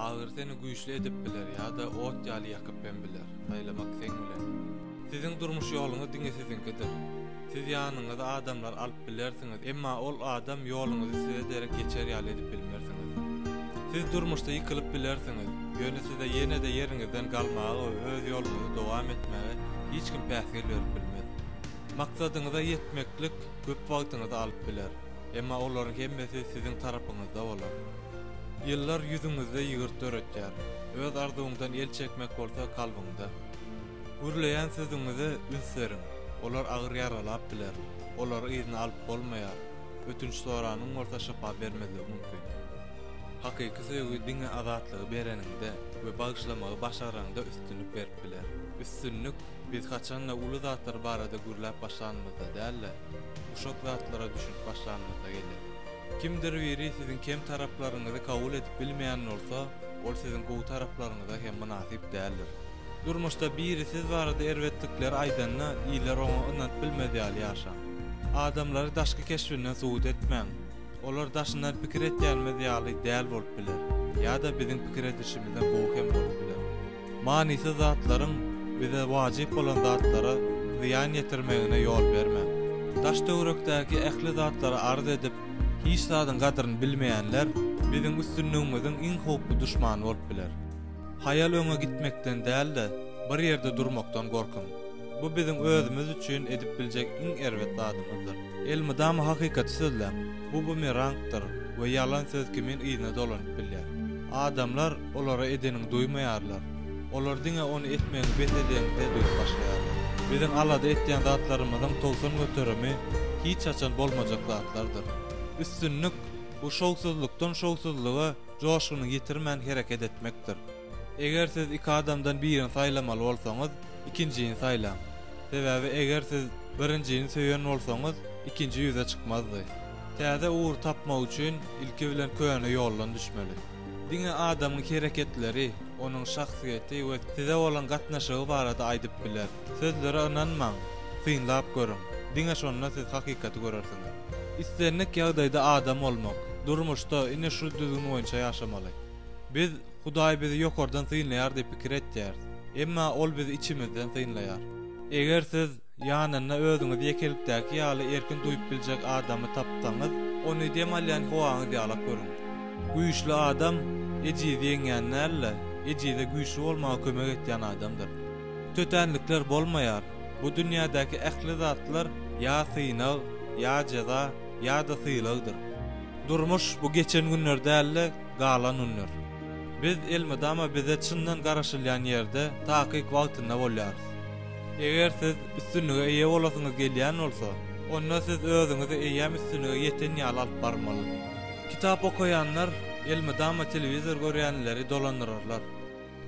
Agyr seni güýçli edip biler ýa-da ot ýaly ýakyp hem biler. Saýlamak seň bilen. Siziň durmuş ýoluňyz diňe siziňkidir. Siz ýanyňyza adamlar alyp bilersiňiz, emma ol adam ýoluňyzy size derek geçer ýaly edip bilmersiňiz. Siz durmuşda ýykylyp bilersiňiz, ýöne size ýene-de ýeriňizden galmaga we öz ýoluňyzy dowam etmäge hiç kim päsgel berip bilmez. Maksadyňyza ýetmeklik köp wagtyňyzy alyp biler, emma olaryň hemmesi siziň tarapyňyzda bolar. Ýyllar ýüzüňizde ýygyrt döretýär, öz arzuwyňdan el çekmek bolsa kalbyňda. Gürleýän sözüňize üns beriň, olar agyr ýaralap biler, olary yzyna alyp bolmaýar, ötünç soranyň bolsa şypa bermezligi mümkin. Hakyky söýgi diňe azatlygy bereniňde we bagyşlamagy başaraňda üstünlik berip biler. Üstünlik Biz haçan-da uly zatlar barada gürläp başlanymyzda däl-de, uşak zatlara düşünip başlanymyzda geler. Kimdir biri siziň kem taraplaryňyzy kabul edip bilmeýän bolsa, ol siziň gowy taraplaryňyza hem mynasyp däldir. Durmuşda biri siz barada erbetlikleri aýdanda, iler oňa ynanyp bilmez ýaly ýaşaň. Adamlary daşky keşbinden subut etmäň. Olar daşyndan pikir edýänimiz ýaly däl bolup biler, ýa-da biziň pikir edişimizden gowy hem bolup biler. Manysyz zatlaryň bize wajyp bolan zatlara zyýan ýetirmegine ýol bermäň. Daş-töwerekdäki ähli zatlary arz edip, hiç zadyň gadryny bilmeýänler biziň üstünligimiziň iň howply duşmany bolup biler. Haýal öňe gitmekden däl-de, bir ýerde durmakdan gorkuň. Bu biziň özümiz üçin edip biljek iň erbet zadymyzdyr. Elmydama hakykaty sözläň. Bu bumerangdyr we ýalan söz kimin yzyna dolanyp bilýär. Adamlar Olara edeniňi duýmaýarlar. Olar diňe ony etmegiňi bes edeňde duýup başlaýarlar. Biziň alada etýän zatlarymyzyň togsan göterimi hiç haçan bolmajak zatlardyr. Üstünlik, bu şowsuzlykdan şowsuzlyga joşguny ýitirmän hereket etmekdir. Eger siz iki adamdan birini saýlamaly bolsaňyz, ikinjini saýlaň. Sebäbi eger siz birinjini söýen bolsaňyz, ikinji ýüze çykmazdy. Täze ugur tapmak üçin ilki bilen köne ýoldan düşmeli. Diňe adamyň hereketleri, onuň şahsyýeti we size bolan gatnaşygy barada aýdyp biler. Sözlere ynanmaň, synlap görüň. Diňe şonda siz hakykaty görersiňiz. Islendik ýagdaýda adam bolmak, durmuşda ine şu düzgün boýunça ýaşamaly. Biz Hudaý bizi ýokardan synlaýar diýip pikir etýäris, emma ol bizi içimizden synlaýar. Eger siz Ýanynda özüňizi ýekelikdäki ýaly erkin duýup biljek adamy tapsaňyz, ony dem alýan howaňyz ýalap görüň. Güýçli adam ejizi ýeňýän däl-de, ejize güýçli bolmaga kömek etýän adamdyr. Tötänlikler bolmaýar. Bu dünýädäki ähli zatlar ýa synag, ýa jeza, ýa-da sylagdyr. Durmuş, bu geçen günler däl-de, galan günler. Biz elmydama bize çyndan garaşylýan ýerde, takyk wagtynda bolýarys. Eger siz üstünlige eýe bolasyňyz gelýän bolsa, onda siz özüňizi eýýäm üstünlige ýeten ýaly alyp barmaly. Kitap okaýanlar elmydama telewizor görýänleri dolandyrarlar.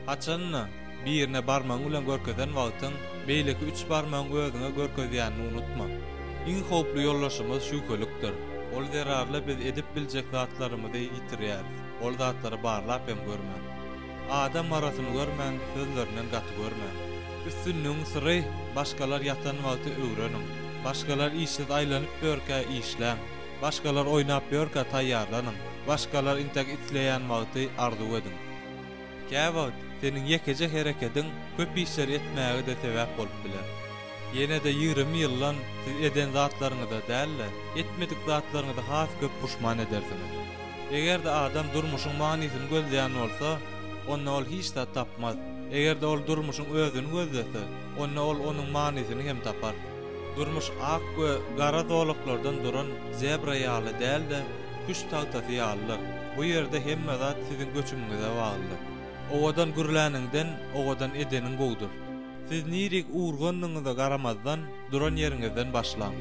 Haçan-da, birine barmagyň bilen görkezen wagtyň beýleki üç barmagyň özüňe görkezýänini unutma. Iň howply ýoldaşymyz şübhelikdir. Ol zerarly biz edip biljek zatlarymyzy ýitirýäris, ol zatlary barlap hem görmän. Adam arasyny görmän, sözlerinden gaty görmän. Üstünligiň syry, başgalar ýatan wagty öwreniň. Başgalar işsiz aýlanyp ýörkä, işläň. Başgalar oýnap ýörkä, taýýarlanyň. Başgalar intek isleýän wagty, arzuw ediň. Käwagt, seniň ýekeje herekediň köp işleri etmäge-de sebäp bolup biler. Ýene-de ýigrimi ýyldan siz eden zatlaryňyza däl-de, etmedik zatlaryňyza has köp puşman edersiňiz. Eger-de adam durmuşyň manysyny gözleýän bolsa, onda ol hiç zat tapmaz. Eger-de ol durmuşyň özüni gözlese, onda ol onuň manysyny hem tapar. Durmuş ak we gara zolaklardan duran zebra ýaly däl-de, küşt tagtasy ýalydyr. Bu ýerde hemme zat siziň göçümiňize baglydyr. Owadan gürläniňden, owadan edeniň gowudyr. Siz nirik urgandygyňyza garamazdan, duran ýeriňizden başlaň.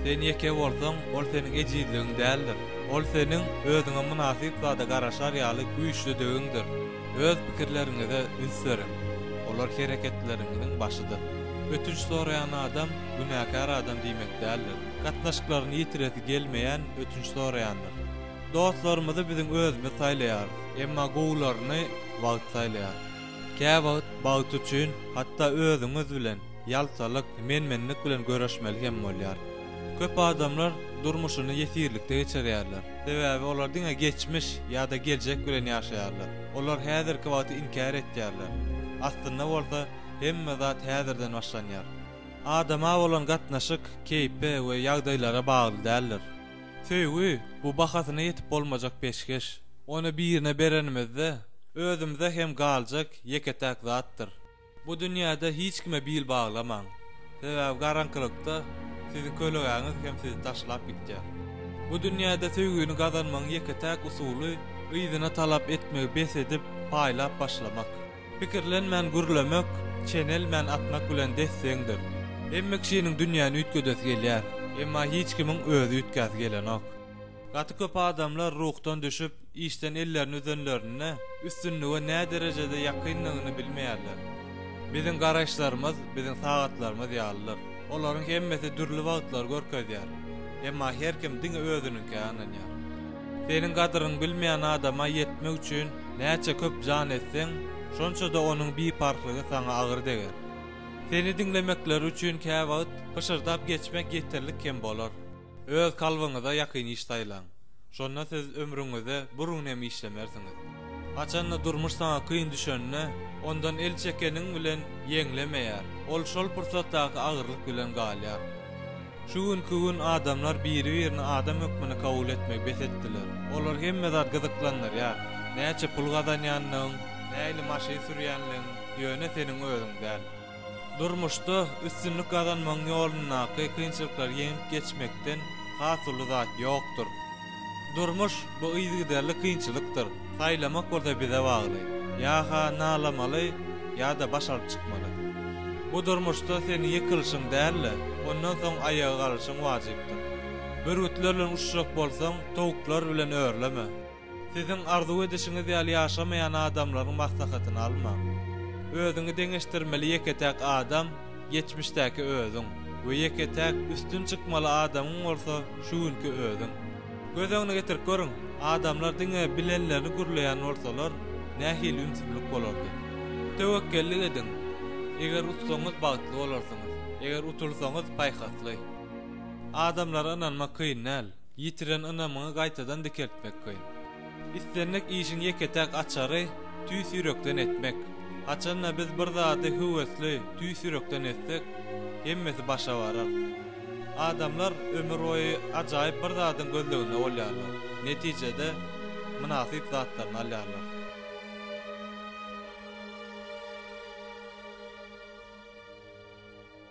Sen ýeke bolsaň, ol seniň ejizligiň däldir. Ol seniň özüňe mynasyp zada garaşar ýaly güýçlüdigiňdir. Öz pikirleriňize üns beriň. Olar hereketleriňiziň başydyr. Ötünç soraýan adam günäkär adam diýmek däldir. Gatnaşyklaryny ýitiresi gelmeýän ötünç soraýandyr. Dostlarymyzy biziň özümiz saýlaýarys, emma gowularyny wagt saýlaýar. Käwagt bagt üçin hatda özüňiz bilen ýaltalyk, men-menlik bilen göreşmeli hem bolýar. Köp adamlar durmuşyny ýesirlikde geçirýärler. Sebäbi olar diňe geçmiş ýa-da geljek bilen ýaşaýarlar. Olar häzirki wagty inkär etýärler. Aslynda bolsa, hemme zat häzirden başlanýar. Adama bolan gatnaşyk keýpe we ýagdaýlara bagly däldir. Söýgi, bu bahasyna ýetip bolmajak peşgeş. Ony birine berenimizde, özümize hem galjak ýeke-täk zatdyr. Bu dünýäde hiç kime bil baglamaň. Sebäbi garaňkylykda siziň kölegäňiz hem sizi taşlap gitýär. Bu dünýäde söýgini gazanmagyň ýeke-täk usuly, yzyna talap etmegi bes edip, paýlap başlamak. Pikirlenmän gürlemek, çenelmän atmak bilen des-deňdir. Hemme kişiniň dünýäni üýtgedesi gelýär, emma hiç kimiň özi üýtgäsi gelenok. Gaty köp adamlar ruhdan düşüp, işden ellerini üzenlerinde, üstünlige näderejede ýakyndygyny bilmeýärler. Biziň garaýyşlarymyz biziň sagatlarymyz ýalydyr. Olaryň hemmesi dürli wagtlary görkezýär. Emma her kim diňe özüniňkä ynanýar. Seniň gadyryňy bilmeýän adama ýetmek üçin näçe köp jan etseň, şonça-da onuň biparhlygy saňa agyr deger. Seni diňlemekleri üçin käwagt pyşyrdap geçmek ýeterlik hem bolar. Öz kalbyňyza ýakyn iş saýlaň. Şonda siz ömrüňize burun hem işlemersiňiz. Haçan-da durmuş saňa kyn düşende, ondan el çekeniň bilen ýeňlemeýär, ol şol pursatdaky agyrlyk bilen galýar. Şu günki gün adamlar biri-birini adam hökmünde kabul etmegi bes etdiler. Olary hemme zat gyzyklandyrýar. Näçe pul gazanýandygyň, nähili maşyn sürýänligiň ýöne seniň özüň däl. Durmuşda üstünlik gazanmagyň ýolundaky kynçylyklary ýeňip geçmekden has uly zat ýokdur. Durmuş bu yzygiderli kynçylykdyr. Saýlamak bolsa bize bagly. Ýa-ha nalamaly, ýa-da baş alyp çykmaly. Bu durmuşda seniň ýykylyşyň däl-de, ondan soň aýaga galyşyň wajypdyr. Bürgütler bilen uçjak bolsaň, towuklar bilen örleme. Siziň arzuw edişiňiz ýaly ýaşamaýan adamlaryň maslahatyny almaň. Özüňi deňeşdirmeli ýeke-täk adam, Geçmişdäki özüň we ýeke-täk üstün çykmaly adamyň bolsa şu günki özüň. Göz öňüne getirip görüň, adamlar diňe bilenlerini gürleýän bolsalar, nähili ümsümlik bolardy? Töwekgellik ediň! Eger utsaňyz, bagtly bolarsyňyz, eger utulsaňyz, paýhasly. Adamlara ynanmak kyn däl, ýitiren ynamyňy gaýtadan dikeltmek kyn. Islendik işiň ýeke-täk açary, tüýs ýürekden etmek. Haçan-da biz bir zady höwesli, tüýs ýürekden etsek, hemmesi başa barar. Adamlar ömürboýy ajaýyp bir zadyň gözleginde bolýarlar, netijede, mynasyp zatlaryny alýarlar.